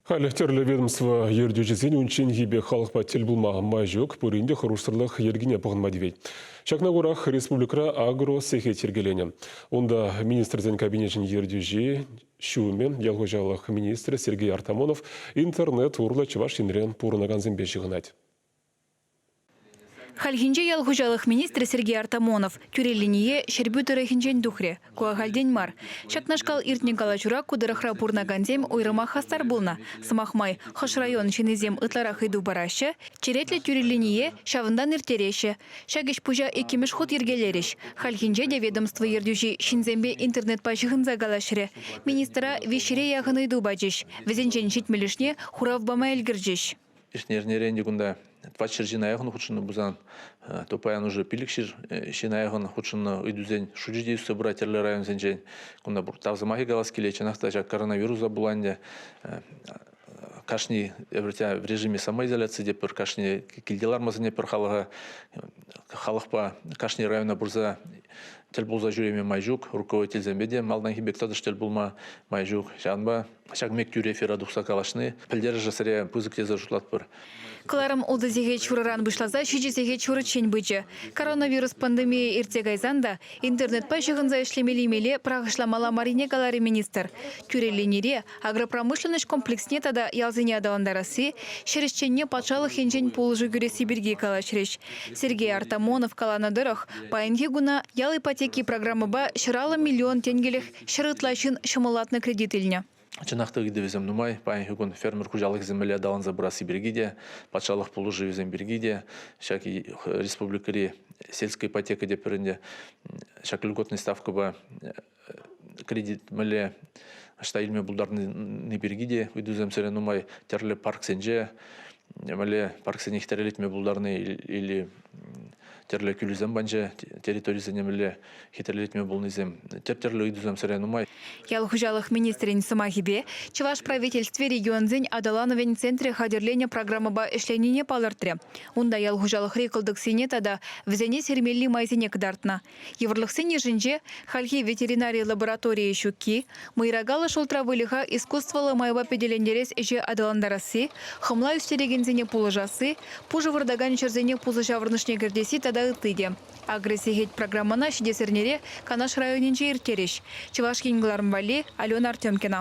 Халӗ тӗрлӗ ведомство ертӳҫисен унчченхи пек халӑхпа тӗл пулма май ҫук, пурин те хӑрушсӑрлӑх йӗркине пӑхӑнма тивет. Ҫакна курах республикӑра агросехет йӗркеленӗ. Унта Министрсен Кабинечӗн ертӳҫи, ҫумӗ, ял хуҫалӑх министрӗ Сергей Артамонов интернет урлӑ Чӑваш Енре пурӑнакансемпе ҫыхӑнать. Хальхинче ял хуҫалӑх министрӗ Сергей Артамонов тӳре линие Ҫӗрпӳ тӑрӑхӗнчен тухрӗ. Ку ахальтен мар. Ҫакнашкал иртнӗ калаҫура ку тӑрӑхра пурӑнакансем уйрӑмах хастар пулнӑ. Сӑмах май, хӑш район ҫыннисем ытларах ыйту параҫҫӗ, черетлӗ тӳре линие ҫавӑнтан ирттереҫҫӗ. Ҫак ӗҫ-пуҫа иккӗмӗш хут йӗркелерӗҫ. Хальхинче те ведомство ертӳҫи ҫынсемпе интернетпа ҫыхӑнса калаҫрӗ. Министра виҫҫӗре яхӑн ыйту пачӗҫ. Вӗсенчен ҫитмӗлӗшне хурав пама ӗлкӗрчӗҫ. Ӗҫнӗ кунта двадцать ҫӗр ҫын аякӑн хутшӑннӑ пулсан, то паян уже пилӗкҫӗр ҫын аякӑн хутшӑннӑ ыйтусен шучӗ те ӳссе пырать тӗрлӗ районсенчен. Кунта пур тав сӑмахӗ калас килет. Чӑнах та ҫак коронавируса пула ӗнтӗ кашни в режиме самоизоляции те пӗр кашни килте лармасене пӗр халӑха халӑхпа кашни района пырса тӗл пулса ҫӳреме май ҫук руководительсемпе те малтанхи пек тӑтӑш тӗл пулма май ҫук ҫавӑнпа Ҫак мек тӳре эфира тухса калаҫни пӗлтерӗшӗ сире пысӑк тесе шутлатпӑр. Кӑларӑм ултӑ сехет ҫурӑран пуҫласа ҫичӗ сехет ҫурӑччен пычӗ. Коронавирус пандемийӗ иртсе кайсан та интернетпа ҫыхӑнса ӗҫлемелли-меле пӑрахӑҫламалла маррине каларӗ министр. Тӳре линире агропромышленноҫ комплексне тата ялсене аталантарасси, ҫӗр ӗҫченне патшалӑх енчен пулӑшу кӳресси пирки калаҫрӗҫ. Сергей Артамонов каланӑ тӑрӑх, паянхи куна ял ипотеки программӑпа ҫӗр алӑ миллион тенкӗлӗх Ҫӗр ытла ҫын ҫӑмӑллатнӑ кредит илнӗ. Чӑнах та ыйтӑвӗсем нумай. Паянхи кун фермер хуҫалӑхӗсем мӗнле аталанса пырасси пирки те, патшалӑх пулӑшӑвӗсем пирки те, ҫак республикӑри сельская ипотека те пӗрӗнте ҫак льготный ставкӑпа кредит мӗнле ӑҫта илме пултарни пирки те ыйтусем сире нумай. Тӗрлӗ парксенче мӗнле парксене хитре пултарни или тӗрлӗ кӳлӗсем панчӗ, территорисене мӗнле хатӗрлетме пулнисем, тӗп тӗрлӗ ыйтусем сӗре нумай. Ял хуҫалӑх министрӗн сӑмахӗпе, чӑваш правительстви регионсен аталанӑвӗн центрӗ хатӗрленӗ программӑпа ӗҫленине палӑртрӗ. Унта ял хуҫалӑхри кӑлтӑксене тата вӗсене сирмелли майсене кӑтартнӑ. Йывӑрлӑхсен йышӗнче хальхи ветеринари лабораторийӗ ҫукки, мӑйракаллӑ шултра выльӑха искусствӑллӑ майпа пӗтӗлентерес ӗҫе аталантарасси, хӑмла ӳстерекенсене пулӑшасси, пушӑ выртакан ҫӗрсене пусӑ ҫаврӑнӑшне кӗртесси тата ытти те. Агросехет программӑна ҫитес эрнере Канаш районӗнче ирттерӗҫ Чӑваш Ен кӑларӑм валли Алена Артемкина.